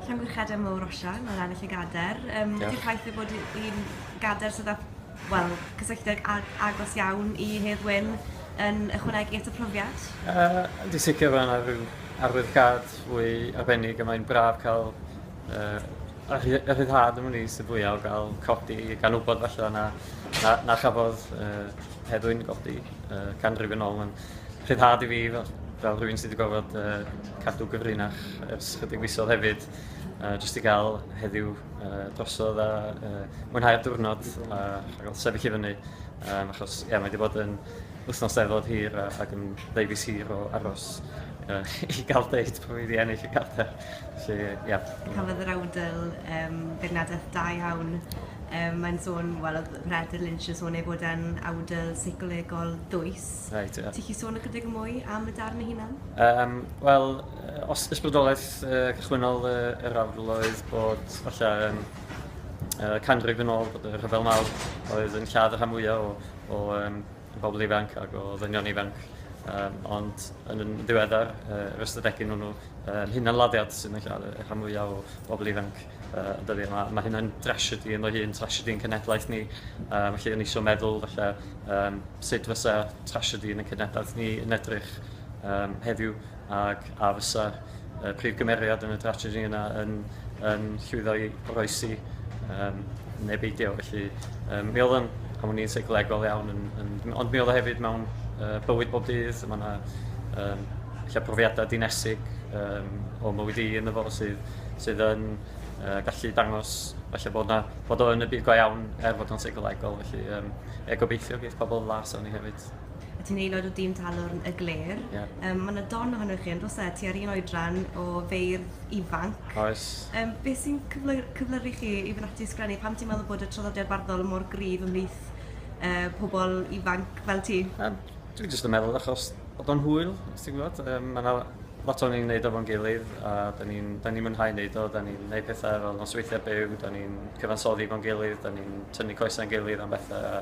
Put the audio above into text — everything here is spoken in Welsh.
Llanwrchadau mowr Osian o'r ennill y gader. Um, yeah. Di'r ffaith ei bod hi'n gader sydd â well, cysylltiad agos iawn i Hedd Wyn yn ychwanegu at y profiad? Uh, di sicr fan ar ryw arwyddgad fwy arbennig a mae'n braf cael uh, y rhyddhad yn ymwneud sy'n fwyaf o gael codi gan wybod falle na, na, na chafodd uh, Hedd Wyn godi. uh, canrif yn ôl. Mae'n rhyddhad i fi fel, fel rhywun sydd wedi gofod uh, cadw gyfrinach ers chydig fisodd hefyd. Uh, just i gael heddiw uh, drosodd a uh, mwynhau'r diwrnod a, a gael sefyll i fyny. Um, achos, ie, yeah, mae wedi bod yn wythnos efod hir a, ac yn ddeifis hir o aros uh, i gael deud bod fi wedi ennill y cadair. Felly, ie. Yeah. Cafodd yr awdl um, beirniadaeth da iawn Yym mae'n sôn wel odd Peredur Lynch yn sôn ei fod e'n awdl seicolegol dwys. Reit ie. Ti 'llu sôn ychydig yn mwy am y darn ei hunan? Yym wel yy os ysbrydoleth yy cychwynnol yy yr awdl oedd bod falle yym yy canrif yn ôl bod y Rhyfel Mawr oedd yn lladd y rhan fwya o o yym o bobl ifanc ag o ddynion ifanc yym ond yn yn ddiweddar yy yr ystadegyn wnnw yn hunanladdiad sydd yn lladd y rhan fwya o bobl ifanc yy yn dydi ma' ma' hynna'n drasiedi ynddo hi yn trasiedi ein cenedlaeth ni a felly o'n i isio meddwl falle yym sut fysa trasiedi yn y cenedlaeth ni yn edrych yym heddiw ag a fysa y prif gymeriad yn y dragedy yna yn yn llwyddo i oroesi yym ne' beidio felly yym mi o'dd o'n pan o'n i'n seicolegol iawn yn yn ond mi o'dd o hefyd mewn yy bywyd bob dydd ma' 'na yym ella profiada dinesig yym o mywyd i yn y fo sydd sydd yn yy gallu dangos falle bod 'na bod o yn y byd go iawn er fod o'n seicolegol felly yym ie gobeithio geith pobol las arni hefyd. a ti'n aelod o dîm Talwrn y Gler. Ie. Yym, mae yna don ohonoch chi, yn oes e? Ti ar un oedran o feirdd ifanc. Oes. Um, beth sy'n cyflyru chi i fynd ati i sgrennu? Pam ti'n meddwl bod y traddodiad barddol mor gryf ymhlith uh, pobl ifanc fel ti? Um, Dwi'n jyst yn meddwl achos bod o'n hwyl, os ti'n gwybod. Um, mae yna lot o'n i'n neud o fo'n gilydd, a da ni'n ni, ni mwynhau neud o, da ni'n neud pethau fel nosweithiau byw, da ni'n cyfansoddi fo'n gilydd, da ni'n tynnu coesau'n gilydd am bethau,